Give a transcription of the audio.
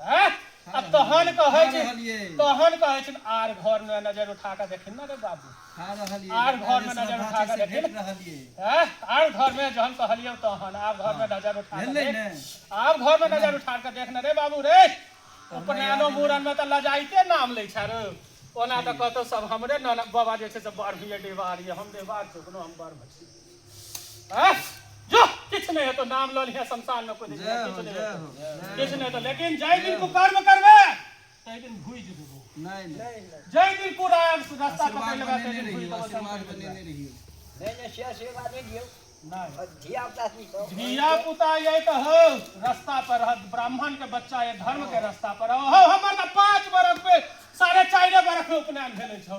हैं आ तहन कहै छी तहन कहै छी आर घर में नजर उठा के देखिन ना रे बाबू आर घर में नजर उठा के देखिन हैं आर घर में जहन कहलियो तहन आर घर में नजर उठा के देख आर घर में नजर उठा के देख ना रे बाबू रे उपनयनो मूड़न में त लजाइते नाम लै छै रे ओना त कहतो सब हमरे नन बाबा जे छै से बड़ भैया डेवार ये हम डेवार चुकनो हम बड़ भैया जो किछु नहि हेतौ नाम लऽ लिहे शमशान मे कोइ जय हो जय हो किछु नहि हेतौ लेकिन जाहि दिन तू कर्म करबे ताहि दिन भूज देबो नहि नहि जाहि दिन तू रास्ता पकड़ लेबे ताहि दिन भूज देबो आशीर्वाद बने नहि रहियो नहि नहि से आशीर्वाद नहि दियौ धिया पुता ये तो हो रास्ता पर ब्राह्मण के बच्चा ये धर्म के रास्ता पर हो हमर पांच बरस पे साढ़े चार बरस में उपनयन भेले छौ